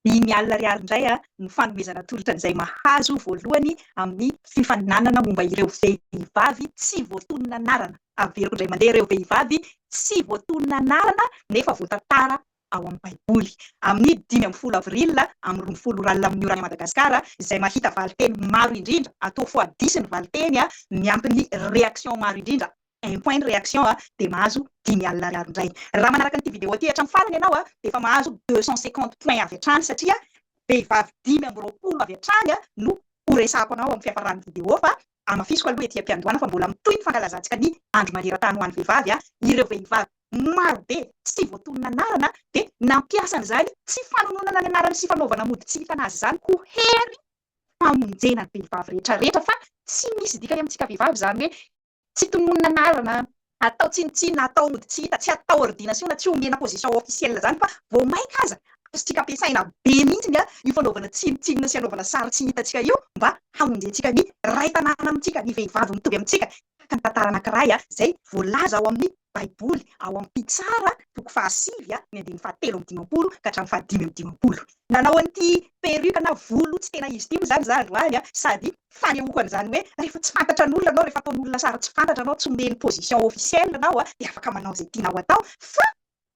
Ny Ny Alina Ariary indray no fanomezana tolotra an'izay mahazo voalohany amin'ny fifaninanana momba ireo vehivavy tsy voatonona anarana. Averiko indray mandeha ireo vehivavy tsy voatonona anarana nefa voatantara ao amin'ny Baiboly. Amin'ny dimy ambin'ny folo avril amin'ny roa ambin'ny folo ora alina amin'ny oran'i Madagasikara, izay mahita valinteny maro indrindra, atao fois dix ny valinteny miampy ny reaction maro indrindra. un point de réaction dia mahazo dimy alina ariary indray. Raha manaraka an'ity vidéo ity hatramin'ny farany ianao dia efa mahazo deux cent cinquante points avy hatrany satria vehivavy dimy amby roapolo avy hatrany no horesahako anao amin'ny fiafaran'ny vidéo fa hamafisiko aloha ety am-piandohana fa mbola mitohy ny fankalazantsika ny andro maneran-tany ho an'ny vehivavy. Ireo vehivavy marobe tsy voatonona anarana dia nampiasa an'izany tsy fanononana ny anarany sy fanaovana mody tsy hitana azy izany ho hery famonjena ny vehivavy rehetra rehetra fa tsy misy dikany amintsika vehivavy izany hoe Tsy tononina anarana, atao tsinontsinona, atao ody tsy hita, tsy atao ordinasiona, tsy omena position officielle zany fa vao maika aza azontsika ampiasaina be mihitsy io fanaovana tsinontsinona sy anaovana sary tsy hitantsika io mba hamonjentsika ny Ray tanàna amintsika, ny vehivavy mitovy amintsika tahaka ny tantara anankiray izay voalaza ao amin'ny. Baiboly ao amin'ny Mpitsara, toko fahasivy, ny andininy fahatelo amby dimampolo ka hatramin'ny fahadimy amby dimampolo. Nanao an'ity perruque na volo tsy tena izy ity moa izany izaho androany, sady fanehoako an'izany hoe rehefa tsy fantatra an'olona ianao, rehefa ataon'olona sary tsy fantatra anao, tsy omeny position officielle anao, dia afaka manao izay tianao atao, fa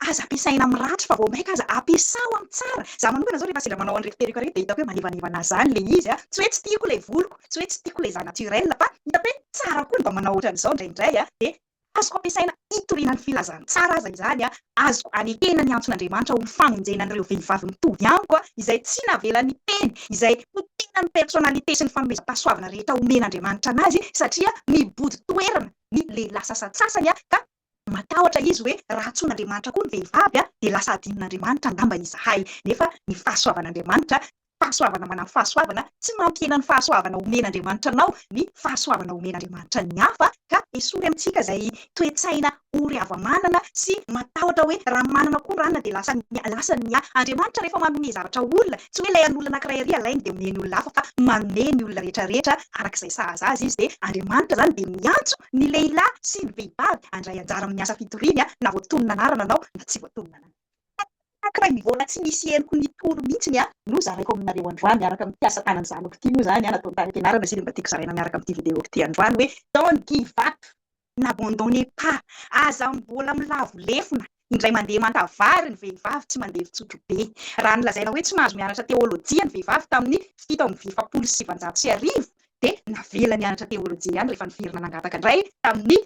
aza ampiasaina amin'ny ratsy fa vao mainka aza ampiasao amin'ny tsara. Izaho manokana izao rehefa sendra manao an'ireto perruque ireto dia hitako hoe manevanevana ahy izany ilay izy, tsy hoe tsy tiako ilay voloko, tsy hoe tsy tiako ilay izaho naturel, fa hitako hoe tsara koa ny mba manao ohatran'izao indraindray, dia Azoko ampiasaina hitoriana ny filazantsara aza izany, azoko anekena ny antson'Andriamanitra ho famonjena an'ireo vehivavy mitovy amiko izay tsy navela niteny izay ho tena ny personnalité sy ny fanomezam-pahasoavana rehetra omen'Andriamanitra anazy satria mibodo toerana ny lehilahy sasantsasany ka matahotra izy hoe raha antsoin'Andriamanitra koa ny vehivavy dia lasa adinon'Andriamanitra angamba izahay nefa ny fahasoavan'Andriamanitra Fahasoavana manampy fahasoavana, tsy mampihena ny fahasoavana omen'Andriamanitra anao ny fahasoavana omen'Andriamanitra ny hafa, ka esory amintsika izay toe-tsaina ory hava-manana sy matahotra hoe raha manana koa ranona dia lasan'ny ahy, lasan'ny ahy. Andriamanitra rehefa manome zavatra olona, tsy hoe ilay an'olona anankiray ary alainy dia omeny olona hafa fa manome ny olona rehetrarehetra arak'izay sahaza azy izy, dia Andriamanitra izany dia miantso ny lehilahy sy ny vehivavy handray anjara amin'ny asa fitoriany na voatonona anarana anao na tsy voatonona anarana. Tac ray Mivona tsy misy henoko ny tour mintsiny a! no zaraiko aminareo androany miaraka amin'ity asa tanan'ny zanako ity moa zany a nataon'i Tahiampianarana izay dia mba tiako zaraina miaraka amin'ity video ity androany hoe don't give up n'abandonnez pas aza mbola milavo lefona indray mandeha maka vary ny vehivavy tsy mandeha fitsotro be raha ny lazaina hoe tsy nahazo mianatra teolojia ny vehivavy tamin'ny fito amby efapolo sy sivanjato sy arivo dia navela nianatra teolojia ihany rehefa niverina nangataka indray tamin'ny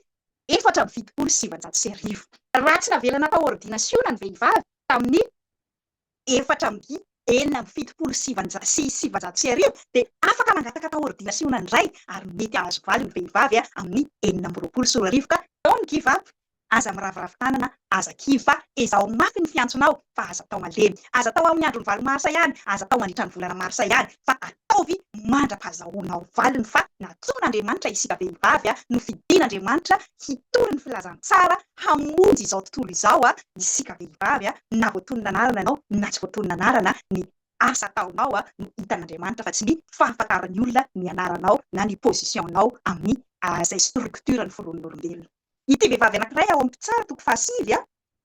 efatra amby fitopolo sy sivinjato sy arivo, raha tsy navelana tao ôrdinasiona ny vehivavy tamin'ny efatra amby enina amby fitopolo sy sivinjato sy sivinjato sy arivo, dia afaka mangataka tao ôrdinasiona indray ary mety hahazo valiny vehivavy amin'ny enina amby roapolo sy roa arivo ka, Don Give Up, aza miraviravy tanana Aza kivy fa ezaho mafy ny fiantsonao fa aza atao malemy. Aza atao amin'ny andron'ny valo marsa ihany, aza atao mandritra ny volana marsa ihany fa ataovy mandra-pahazahoanao valiny fa natsoin'Andriamanitra isika vehivavy no fidin'Andriamanitra hitory ny filazantsara hamonjy izao tontolo izao isika vehivavy na voatonona anarana ianao na tsy voatonona anarana ny asa ataonao no hitan'Andriamanitra fa tsy ny fahafantaran'ny olona ny anaranao na ny position-nao amin'ny izay structure-ny foronin'olombelona. Ity vehivavy anankiray ao amin'ny mpitsara toko fahasivy a,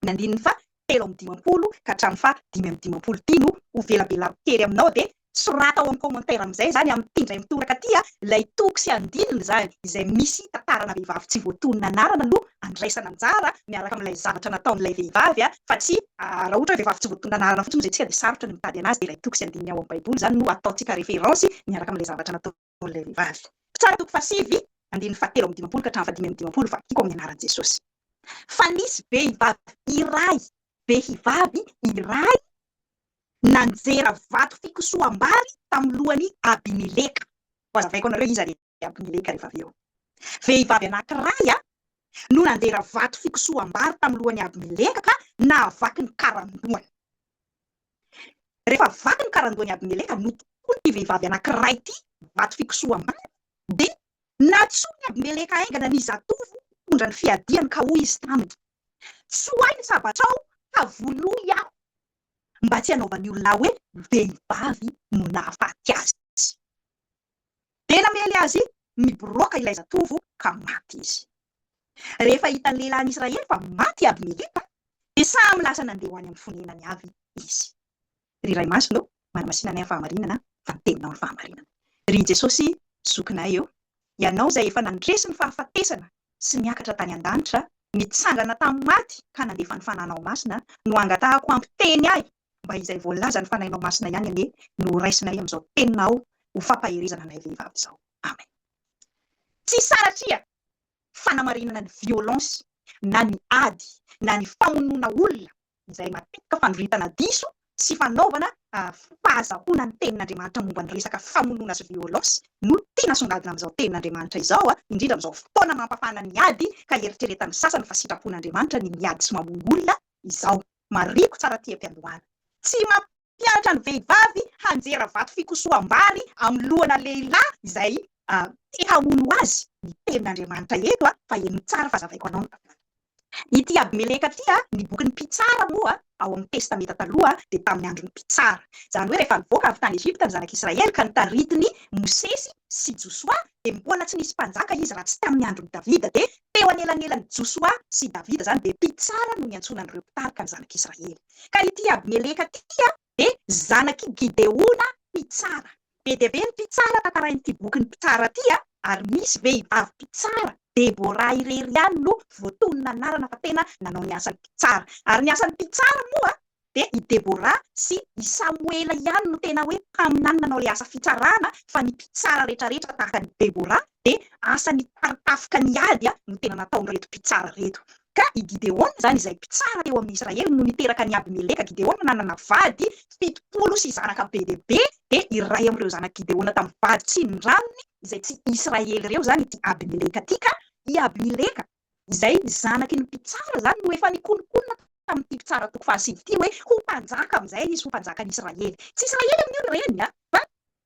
ny andininy faha telo amby dimampolo ka hatramin'ny faha dimy amby dimampolo ity no ho velabelako kely aminao dia soraty ao amin'ny commentaire amin'izay izany amin'ity indray mitoraka ity a, ilay toko sy andininy izany izay misy tantarana vehivavy tsy voatonona anarana no andraisana anjara miaraka amin'ilay zavatra nataon'ilay vehivavy a, fa tsy raha ohatra hoe vehivavy tsy voatonona anarana fotsiny hoy izay tsika dia sarotra ny mitady anazy dia ilay toko sy andininy ao amin'ny baiboly izany no ataontsika référence miaraka amin'ilay zavatra nataon'ilay Paoly ry vavy. Mpitsara toko fahasivy, andininy fahatelo amby dimampolo ka hatramin'ny fahadimy amby dimampolo, fa tiako amin'ny anaran'i Jesosy. Fa nisy behivavy iray, behivavy iray nanjera vato fikosoham-bary tamin'ny lohan'i Abimeleka. Hohazavaiko anareo iza ry Abimeleka rehefa avy eo. Vehivavy anankiray no nanjera vato fikosoham-bary tamin'ny lohan'i Abimeleka ka nahavaky ny karandohany. Rehefa vaky ny karandohan'i Abimeleka notokon'ity vehivavy anankiray ity vato fikosoham-bary, dia nantsoin'i Abimeleka haingana ny zatovo mpitondra ny fiadiany ka hoy izy taminy, Tsoahy ny sabatrao ka vonoy aho, mba tsy hanaovan'ny olona ahy hoe vehivavy no nahafaty azy. Dia namely azy ny biraoka ilay zatovo ka maty izy. Rehefa hitan'ny lehilahin'i Israely fa maty i Abimeleka, dia samy lasa nandeha ho any amin'ny fonenany avy izy. Ry Ray Masina ô, manamasina anay amin'ny fahamarinana fa ny Teninao no fahamarinana. Ry Jesosy Zokinay ô, Ianao izay efa nandresy ny fahafatesana sy niakatra tany an-danitra, nitsangana tamin'ny maty ka nandefa ny Fananao Masina no angatahako hampiteny ahy Mba izay voalazan'ny Fanahinao Masina ihany anie no ho raisinay amin'izao teninao ho fampaherezana anay vehivavy izao. Amen. Tsy saratria fanamarinana ny violence na ny ady na ny famonoana olona izay matetika fandroritana diso sy fanaovana fahazahoana ny tenin'Andriamanitra momba ny resaka famonoana sy violence no tiana songadina amin'izao tenin'Andriamanitra izao indrindra amin'izao fotoana mampafana ny ady ka eritreretan'ny sasany fa sitrapon'Andriamanitra ny miady sy mamono olona izao. Marihiko tsara aty am-piandohana. Tsy mampianatra ny vehivavy hanjera vato fikosoham-bary amin'ny lohana lehilahy izay te hamono azy ny tenin'Andriamanitra eto fa heno tsara fa zavaiko anao ny tantara. Ity Abimeleka ity, ny bokin'ny Mpitsara moa ao amin'ny Testamenta Taloha dia tamin'ny andron'ny Mpitsara. Izany hoe rehefa nivoaka avy tany Egypta ny zanak'Israely ka nitaritin'i Mosesy sy Josoa dia mbola tsy nisy mpanjaka izy raha tsy tamin'ny andron'i Davida dia Teo anelanelan'i Josoa sy Davida izany dia mpitsara no niantsoana an'ireo mpitarika ny zanak'Israely. Ka ity Abimeleka ity dia zanak'i Gideona mpitsara. Be dia be ny mpitsara tantarain'ity bokin'ny Mpitsara ity ary misy vehivavy mpitsara, Debora irery ihany no voatonona anarana fa tena nanao ny asan'ny mpitsara. Ary ny asan'ny mpitsara moa dia i Debora sy i Samoela ihany no tena hoe mpaminany nanao ilay asa fitsarana fa ny mpitsara retraretra tahaka an'i Debora dia asa nitaritafika ny ady no tena nataon'ireto mpitsara ireto. Ka i Gideona izany izay mpitsara teo amin'ny Israely no niteraka an'i Abimeleka, Gideona nanana vady fitopolo sy zanaka be dia be dia iray amin'ireo zanak'i Gideona tamin'ny vady tsindraminy izay tsy Israely ireo izany ity Abimeleka ity ka i Abimeleka izay zanaky ny mpitsara izany no efa nikononkonona tamin'ity mpitsara toko fahasivy ity hoe ho mpanjaka amin'izay izy, ho mpanjakan'Israely. Tsy Israely amin'io ry reny a! Fa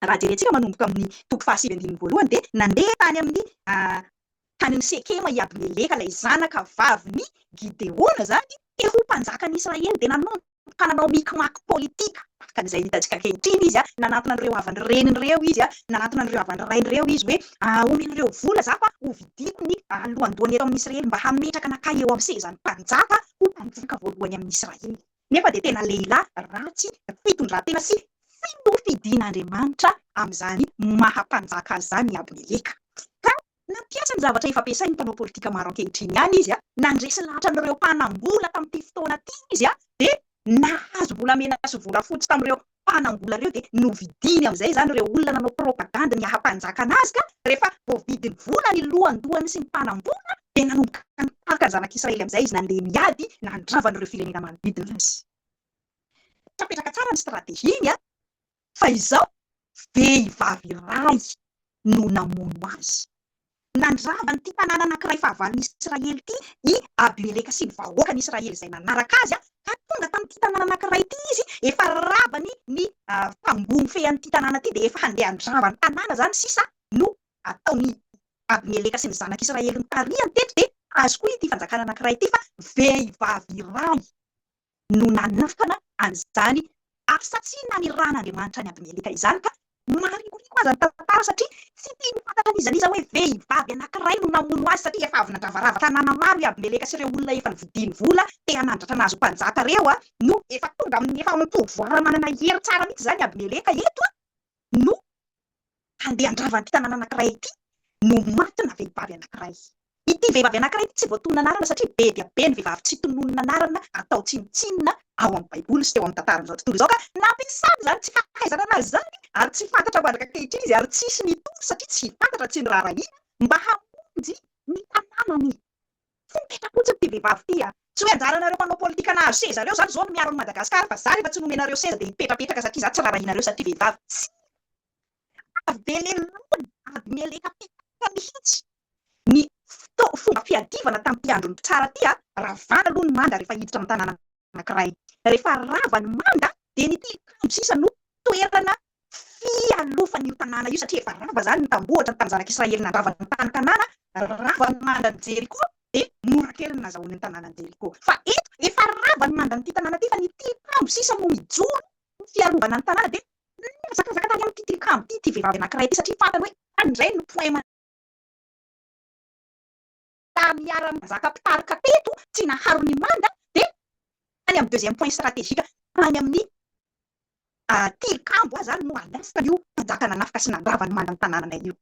raha jerentsika manomboka amin'ny toko fahasivy andininy voalohany dia nandeha tany amin'ny tany amin'ny Sekema i Abimeleka ilay zanaka vavin'i Gideona izany te ho mpanjakan'Israely dia nanontona. mpananao mikimaky politika, ka izay hitantsika ankehitriny izy nanantona an'ireo havan'ny reniny ireo izy, nanantona an'ireo havan'ny rainy ireo izy hoe omena ireo vola za fa ho vidiako ny lohandohany eto amin'ny Israely mba hametraka anakahy eo amin'ny sezan'ny mpanjaka ho mpanjaka voalohany amin'ny Israely nefa dia tena lehilahy ratsy fitondrantena sy filoha fidin'Andriamanitra amin'izany maha mpanjaka azy izany i Abimeleka ka Nampiasa ny zavatra efa ampiasain'ny mpanao politika maro ankehitriny ihany izy, nandresy lahatra an'ireo mpanam-bola tamin'ity fotoana ity izy, dia nahazo volamena sy volafotsy tamin'ireo mpanam-bola ireo dia novidiany amin'izay izany ireo olona nanao propagandy ny haha-mpanjakana azy ka rehefa voavidiny vola ny lohandohany sy ny mpanam-bola dia nanomboka nitahaka ny zanak'Israely amin'izay izy nandeha miady nandrava an'ireo firenena manodidina azy. Tsy napetraka tsara ny strategiany. fa izao vehivavy rambo no namono azy. Nandrava an'ity tanàna anankiray fahavalon'i Israely ity i Abimeleka sy ny vahoakan'Israely izay nanaraka azy, ka tonga tamin'ity tanàna anankiray ity izy, efa ravany ny tamboho mifehy an'ity tanàna ity, dia efa handeha handrava ny tanàna izany sisa no ataon'i Abimeleka sy ny zanak'Israely nitarihany teto, dia azoko ity fanjakana anankiray ity fa vehivavy rambo. no nanafana an'izany asa tsy naneran'Andriamanitra an'i Abimeleka izany, ka maharikoriko aza ny tantara satria tsy tiany ho fantatra n'iza n'iza hoe vehivavy anankiray no namono azy satria efa avy nandravarava tanàna maro i Abimeleka sy ireo olona efa novidiany vola te hanandratra nahazo mpanjaka ireo no efa tonga amin'ny efa amim-pouvoir manana hery tsara mihitsy izany i Abimeleka eto no handeha handrava an'ity tanàna anankiray ity no matina vehivavy anankiray. Ity vehivavy anankiray ity tsy voatonona anarana satria be dia be ny vehivavy tsy tononina anarana atao tsinontsinona ao amin'ny Baiboly sy teo amin'ny tantaran'izao tontolo izao ka nampiasany izany tsy fahaizana anazy izany ary tsy fantatra mandraka ankehitriny izy ary tsisy nitovy satria tsy fantatra tsy noraharahiana mba hamonjy ny tanànany. Fepetra fotsiny ty vehivavy ty a! Tsy hoe anjaranareo mpanao politika nahazo seza reo zany zao no miaro an'i Madagascar fa za refa tsy nomenareo seza de hipetrapetraka satria za tsy rarahinareo satria vehivavy. Tsia! Avy be lelona ady mialeka petaitra mihitsy ny fomba fiadivana tamty andron'ny mpitsara ty a! Ravana aloha ny manga refa hiditra am tanàna anakiray. Refa rava ny manga de ny tilikambo sisa no toerana fialofany io tanàna io, satria efa rava izany ny tambohatra, ny tanin'ny Zanak'i Israely nandrava ny tany Kanana, rava ny manda an'i Jeriko, dia mora kely ny nazahoany ny tanànan'i Jeriko. Fa eto, efa rava ny manda an'ity tanàna ity, fa ny tilikambo sisa no mijoro ho fiarovana ny tanàna, dia mihazakazaka tany amin'ity tilikambo ity ity vehivavy anankiray ity, satria fantany hoe tany indray no poema. Tamy hiara mizaka mpitarika teto tsy naharo ny manda de tany am deuxième point stratégique tany aminy tilikambo aza no alerte nio mpanjaka nanafika sy nandrava ny manda ny tanananay io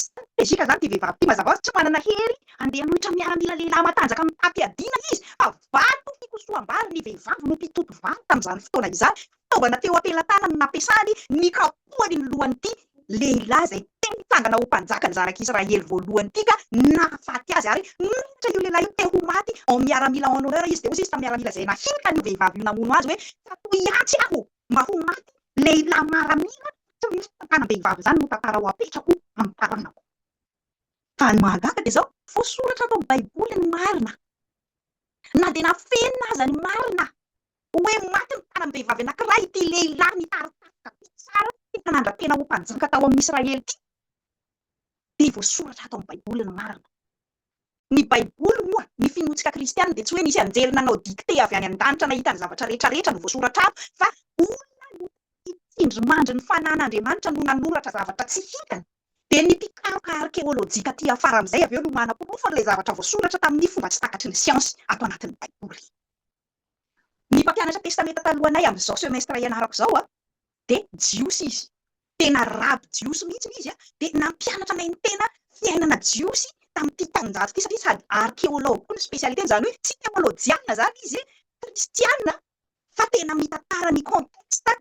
stratégique zany ty vehivavy ty mazava hoazy tsy manana hery ande hanohitra miaramila lehilahy matanjaka mitaty adiana izy fa vato fikosoham bary ny vehivavy no mpitoto vary tamy zany fotoana izany fitaovana teo am-pelatanany nampiasany nikapohany ny lohan'ity lehilahy izay te hitsangana ho mpanjaka ny zanak'i Israely voalohany ity ka nahafaty azy, ary nanohitra io lehilahy io te ho maty en miaramila en honneur izy, dia hoy izy tamin'ny miaramila izay nahinika an'io vehivavy io namono azy hoe, Tsy atoy atsy aho mba ho maty lehilahy maramila tsy misy tantanam-behivavy izany no tantarao apetrako amin'ny taranako. Fa ny mahagaga dia izao, voasoratra ato amin'ny baiboly ny marina, na dia nafenina aza ny marina Hoe maty ny taram-behivavy anankiray ity lehilahy nitari tafika be tsara tena nandra-tena ho mpanjaka tao amin'ny Israely ity, dia voasoratra ato amin'ny Baiboly ny marina. Ny Baiboly moa, ny finoantsika kristiana, dia tsy hoe nisy anjely nanao dictée avy any an-danitra nahita ny zavatra rehetrarehetra no voasoratra ato, fa olona notafy tsindrimandry ny fanahin'Andriamanitra no nanoratra zavatra tsy hitany. Dia ny mpikaroka arkeolojika aty afara amin'izay avy eo no manaporofo an'ilay zavatra voasoratra tamin'ny fomba tsy takatry ny siansy ato anatin'ny Baiboly. Ny mpampianatra Testamenta Taloha anay amin'izao semestre ianarako izao dia Jiosy izy. Tena raby Jiosy mihitsy ilay izy, dia nampianatra anay ny tena fiainana Jiosy tamin'ity taonjato ity satria sady arkeology koa ny spécialité-ny, izany hoe tsy teolojiana izany izy, kristiana, fa tena mitantara ny contexte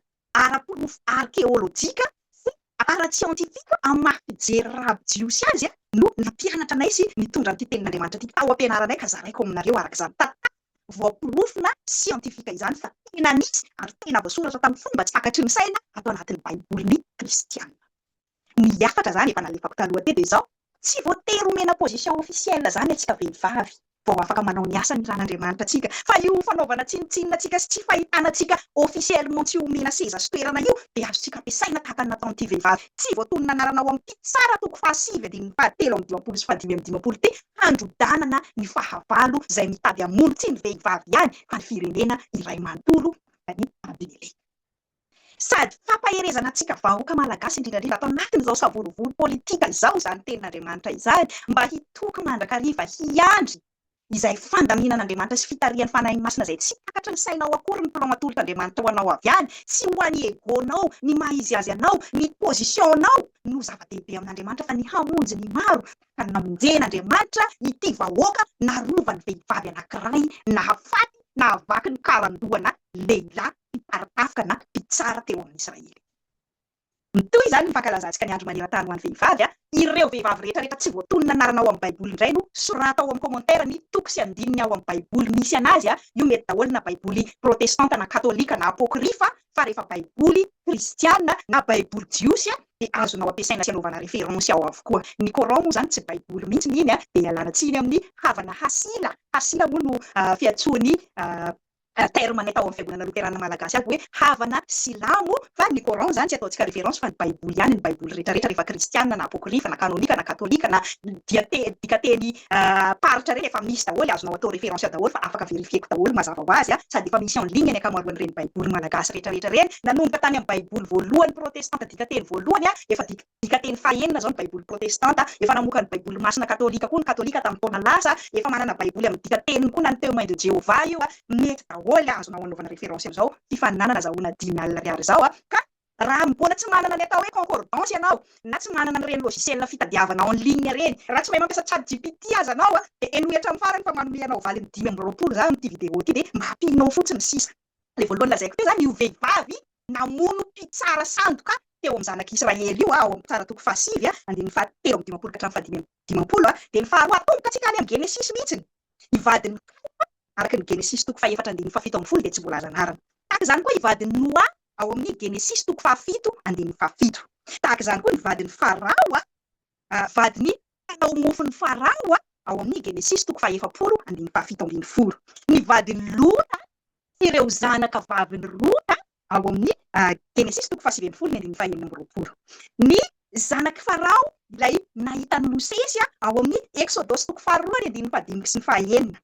ara-porofo arkeolojika sy ara-tsiantifika amin'ny maha fijery rabi-jiosy azy no nampianatra anay sy nitondra an'ity tenin'Andriamanitra ity tao am-pianaranay ka zaraiko aminareo araka izany tantara voaporofona siantifika izany fa tena nisy ary tena voasoratra tamin'ny fomba tsy takatry ny saina ato anatin'ny Baibolin'ny kristiana. Ny hafatra zany efa nalefako taloha teo dia izao, tsy voatery omena position officielle zany antsika vehivavy vao afaka manao ny asany ran'Andriamanitra antsika fa io fanaovana tsinontsinona antsika sy tsy fahitana antsika officiellement tsy omena seza sy toerana io dia azontsika ampiasaina tahaka ny nataon'ity vehivavy tsy voatonona anarana ao amin'ity tsara toko fahasivy andininy fahatelo amby dimampolo sy fahadimy amby dimampolo ity handrodanana ny fahavalo izay mitady hamono tsy ny vehivavy ihany fa ny firenena iray manontolo, Dany Abinele. Sady fampaherezana antsika vahoaka malagasy indrindra indrindra ato anatin'izao savorovoro politika izao izany tenin'Andriamanitra izany mba hitoky mandrakariva hiandry izay fandaminan'Andriamanitra sy fitarihan'ny Fanahiny Masina izay tsy takatry ny sainao akory ny plan atolotr' Andriamanitra ho anao avy any tsy ho an'i egonao ny maha izy azy anao ny positionao no zava-dehibe amin'Andriamanitra fa ny hamonjy ny maro tahaka ny namonjen'Andriamanitra ity vahoaka narovany vehivavy anakiray nahafaty nahavaky ny karandohana lehilahy mpitarafika na mpitsara teo amin'ny Israely. Mitohy izany ny fankalazantsika ny andro maneran-tany ho an'ny vehivavy. Ireo vehivavy rehetrarehetra tsy voatonona anarana ao amin'ny Baiboly indray no sorata ao amin'ny kômantera ny toko sy andininy ao amin'ny Baiboly misy an'azy, io mety daholo na Baiboly protestanta na katolika na apôkrifa fa rehefa Baiboly kristiana na Baiboly jiosy dia azonao ampiasaina sy anaovana référence ao avokoa. Ny Coran moa izany tsy Baiboly mihitsy ny iny dia ialana tsiny amin'ny havana Hasila, Hasila moa no fiantsoan'i Raha terme natao amin'ny fiangonana loterana malagasy aby hoe havana silamo fa ny coran izany tsy ataontsika reference fa ny baiboly ihany ny baiboly retraretra rehefa kristiana na apocryphe na canonique na catholique na dikateny paritra ireny efa misy daholo azonao atao reference daholo fa afaka verifieko daholo mazava ho azy sady efa misy en ligne ny ankamaroan'ireny baiboly malagasy retraretra ireny nanomboka tany amin'ny baiboly voalohany protestanta dikateny voalohany efa Midika teny fahenina izao ny Baiboly protestanta. Efa namoaka ny Baiboly masina katolika koa ny Katolika tamin'ny taona lasa. Efa manana Baiboly amin'ny dika teniny koa na ny Témoins de Jéhovah io. Mety daholo, azonao anaovana référence amin'izao fifaninanana azahoana dimy alina ariary izao. Ka raha mbola tsy manana ny atao hoe concordance ianao, na tsy manana an'ireny logiciel fitadiavana en ligne ireny, raha tsy mahay mampiasa chat GPT aza anao, dia henoy hatramin'ny farany fa manome anao valiny dimy amby roapolo za amin'ity vidéo ity dia mba ampianao fotsiny sisa. Ilay voalohany lazaiko teo izany, io vehivavy namono mpitsara sandoka teo amin'ny zanak'i Israely io, ao amin'ny Mpitsara toko fahasivy, andininy fahatelo amby dimampolo ka hatramin'ny fahadimy amby dimampolo. Dia ny faharoa, atomboka tsika any amin'ny Genesisy mihitsy, ny vadin'i Noa, araka ny Genesisy toko fahefatra andininy fahafito ambin'ny folo dia tsy voalaza anarana. Tahaka izany koa i vadin'i Noa ao amin'ny Genesisy toko fahafito andininy fahafito. Tahaka izany koa ny vadin'i Farao. vadin'ny mpanao mofon'i Farao, ao amin'ny Genesisy toko fahefapolo andininy fahafito ambin'ny folo. Ny vadin'i Lota sy ireo zanaka vavin'i Rota, ao amin'ny Genesisy toko fahasivy ambin'ny folo ny andininy fahenina amby roapolo. Ny zanak'i Farao, ilay nahita an'i Mosesy, ao amin'ny Eksodosy toko faharoa ny andininy fahadimy sy ny fahaenina.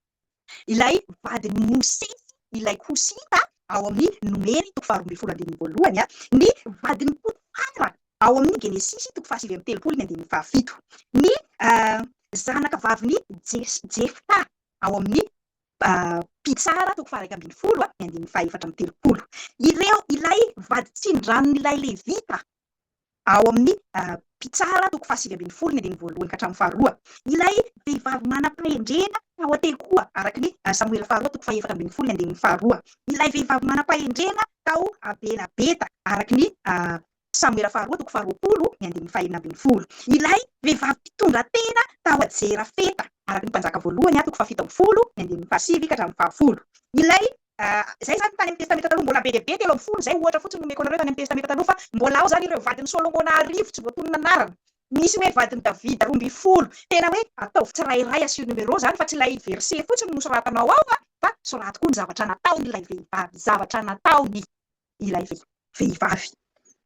Ilay vadin'i Mosesy, ilay Kosita, ao amin'ny Nomery toko faharoa ambin'ny folo andininy voalohany, ny vadin'i Potifara, ao amin'ny Genesisy toko fahasivy amby telopolo ny andininy fahafito, ny zanaka vavin'i Jefta, ao amin'ny Mpitsara toko faha-iraika ambin'ny folo ny andininy fahaefatra amby telopolo. Ireo, ilay vady tsindranon'ilay Levita, ao amin'ny mpitsara toko fahasivy ambin'ny folo ny andininy voalohany ka hatramin'ny faharoa. Ilay vehivavy manam-pahendrena tao an-tekoa, araka ny Samoela faharoa toko fahefatra ambin'ny folo ny andininy faharoa. Ilay vehivavy manam-pahendrena tao Bela-beta, araka ny Samoela faharoa toko faharoapolo ny andininy fahenina ambin'ny folo. Ilay vehivavy mpitondra tena tao Jerafeta, araka ny Mpanjaka voalohany toko fahafito ambin'ny folo ny andininy fahasivy ka hatramin'ny fahafolo. Ilay Izay izany tany amin'ny Testamenta Taloha mbola be dia be, telo ambin'ny folo izay ohatra fotsiny no omeko anareo tany amin'ny Testamenta Taloha fa mbola ao izany ireo vadin'i Solomona arivo tsy voatonona anarana. Misy hoe vadin'i Davida roa ambin'ny folo. Tena hoe ataovy tsirairay asio numéro izany fa tsy ilay verset fotsiny no soratanao ao fa soraty koa ny zavatra nataon'ilay vehivavy, zavatra nataony. ilay vehivavy.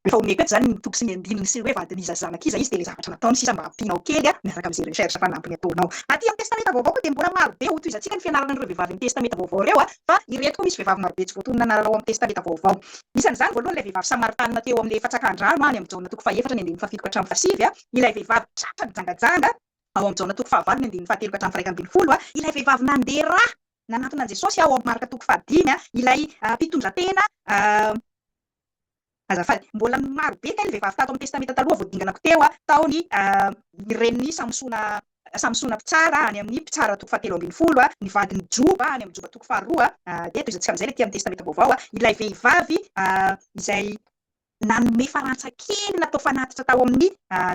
Efa omeko eto izany ny toko sy ny andininy sy ny hoe vadin'iza sy zanak'iza izy dia ilay zavatra nataony sisa mba hampianao kely miaraka amin'izay recherche fanampiny ataonao. Aty amin'ny Testamenta Vaovao koa dia mbola marobe hotohizantsika ny fianaran'ireo vehivavy amin'ny Testamenta Vaovao ireo fa ireto koa misy vehivavy marobe tsy voatonona anarana ao amin'ny Testamenta Vaovao. Isan'izany voalohany ilay vehivavy Samaritanina teo amin'ilay efa tsakan-drano any amin'ny Jaona toko fahefatra ny andininy fahafito ka hatramin'ny fahasivy, ilay vehivavy tratra nijangajanga ao amin'ny Jaona toko fahavalo ny andininy fahatelo ka hatramin'ny firaika ambin'ny folo, ilay vehivavy nandeha ra Nanantona an'i Jesosy ao Marka toko fahadimy ilay mpitondra tena azafady. Mbola maro be kay ny vehivavy tato amin'ny Testamenta Taloha vao dinganako teo tao ny ny renin'i Samsona Samsona mpitsara any amin'ny Mpitsara toko fahatelo ambin'ny folo, ny vadin'i Joba any amin'ny Joba toko faharoa dia tohizantsika amin'izay ilay ety amin'ny Testamenta Vaovao ilay vehivavy izay Nanome farantsa kely natao fanatitra tao amin'ny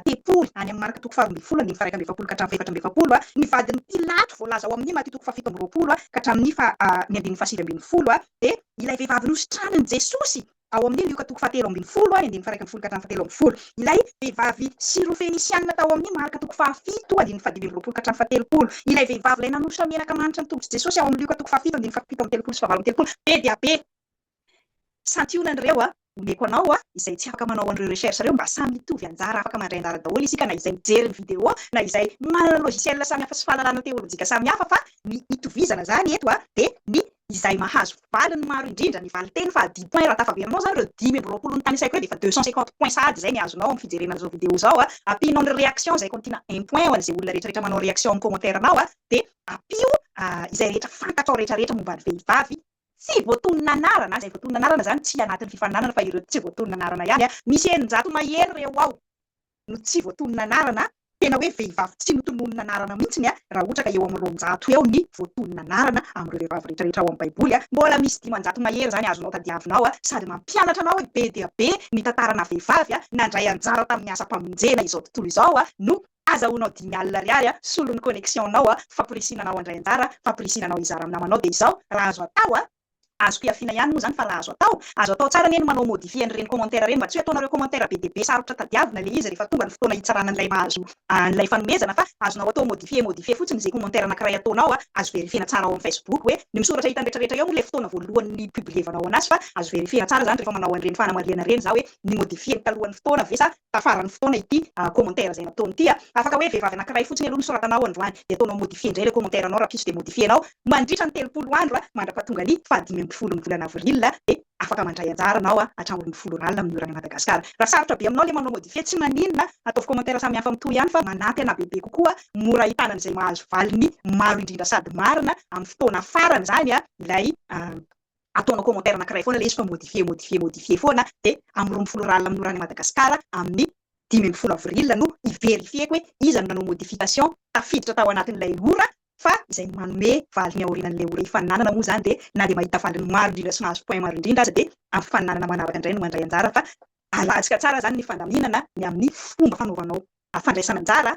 tempoly any amin'ny Marka toko faharoa ambin'ny folo andininy faha-iraika amby efapolo ka hatramin'ny fahefatra amby efapolo ny vadin'i Pilato, voalaza ao amin'ny Maty toko fahafito amby roapolo ka hatramin'ny faha ny andininy fahasivy ambin'ny folo, dia ilay vehivavy nositranin'i Jesosy ao amin'ny Lioka toko fahatelo ambin'ny folo ny andininy faha-iraika ambin'ny folo ka hatramin'ny fahatelo ambin'ny folo, ilay vehivavy syrofenisianina tao amin'ny Marka toko fahafito andininy fahadimy amby roapolo ka hatramin'ny fahatelopolo, ilay vehivavy ilay nanosotra menaka manitra ny tongotr'i Jesosy ao amin'ny Lioka toko fahafito andininy fahafito amby telopolo sy fahavalo amby telopolo, be dia be. Santionany ireo a! Omeko anao a! izay tsy afaka manao an'ireo recherche ireo mba samy mitovy anjara afaka mandray anjara daholo isika na izay mijery ny video na izay manana ny logiciel samy hafa sy fahalalana teolojika samy hafa fa ny itovizana izany eto a! dia ny izay mahazo valiny maro indrindra ny valinteny fa dimy point raha tafaverinao izany ireo dimy amby roapolo notanisaiko ireo dia efa deux cent cinquante point sahady izay ny azonao amin'ny fijerena an'izao video izao a! ampianao ny reaction izay kontina un point ho an'izay olona rehetra rehetra manao reaction amin'ny commentaire anao a! dia ampio izay rehetra fantatrao rehetra rehetra momba ny vehivavy Tsy voatonona anarana, izay voatonona anarana izany tsy anatin'ny fifaninanana fa ireo tsy voatonona anarana ihany an! Misy eninjato mahery ireo ao no tsy voatonona anarana, tena hoe vehivavy tsy notononina anarana mihitsy an! Raha ohatra ka eo amin'ny roanjato eo ny voatonona anarana amin'ireo vehivavy rehetra rehetra ao amin'ny baiboly an! Mbola misy dimanjato mahery izany azonao tadiavinao an! Sady mampianatra anao hoe be dia be ny tantaranà vehivavy nandray anjara tamin'ny asam-pamonjena izao tontolo izao an! No Azahoanao dimy alina ariary a! Solon'ny connexion nao a! Famporisihina anao handray anjara, famporisihina anao hizara amin'ny namanao dia izao, raha azo atao a! Azoko ihafiana ihany moa izany fa raha azo atao, azo atao tsara anie ny manao modifier an'ireny commentaire ireny mba tsy hoe ataonareo commentaire be dia be sarotra tadiavina ilay izy rehefa tonga ny fotoana hitsarana an'ilay mahazo an'ilay fanomezana fa azonao atao modifier modifier fotsiny izay commentaire anankiray ataonao a! Azo verifier-na tsara ao amin'ny facebook hoe ny misoratra hitan'ny rehetra rehetra eo moa ilay fotoana voalohany nipublievanao anazy fa azo verifier-na tsara izany rehefa manao an'ireny fanamarihana ireny za hoe nimodifier-ny talohan'ny fotoana ve sa tafaran'ny fotoana ity commentaire izay nataony ity a! Afaka hoe vehivavy anankiray fotsiny aloha nosoratanao androany dia ataonao modifier indray ilay commentaire anao rahampitso dia modifier nao mandritra ny telopolo andro a! Mandrapahatonga ny fahadimy ambin'ny folo ny volana avril dia afaka mandray anjara anao a! Hatramin'ny ny folo ral amin'ny oran'i Madagascar. Raha sarotra be aminao ilay manao modifier tsy maninona ataovy commentaire samihafa mitohy ihany fa manampy anà bebe kokoa mora ahitana an'izay mahazo valiny maro indrindra sady marina amin'ny fotoana farany izany a! ilay ataonao commentaire anakiray foana ilay izy fa modifier, modifier, modifier foana dia amin'ny roa ambin'ny folo rallye manohana an'i Madagascar amin'ny dimy ambin'ny folo avril no hi-verifier-ko hoe iza no nanao modification tafiditra tao anatin'ilay ora fa izay manome valiny aorinan'ilay ora hifaninanana moa izany dia na dia mahita valiny maro indrindra sy mahazo point maro indrindra aza dia amin'ny fifaninanana manaraka indray no mandray anjara fa alantsika tsara izany ny fandaminana ny amin'ny fomba fanaovanao fandraisana anjara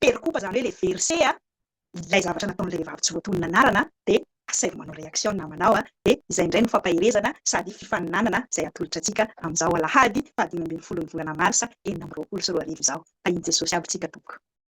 Perikopa izany hoe ilay verset a, ilay zavatra nataon'ilay vehivavy tsy voatonona anarana dia asaivo manao reaction ny namanao a, dia izay indray no fampaherezana sady fifaninanana izay atolotra antsika amin'izao alahady faha dimy ambin'ny folon'ny volana marsa enina amby roapolo sy roa arivo izao. Fa i Jesosy aby tsika tompoko.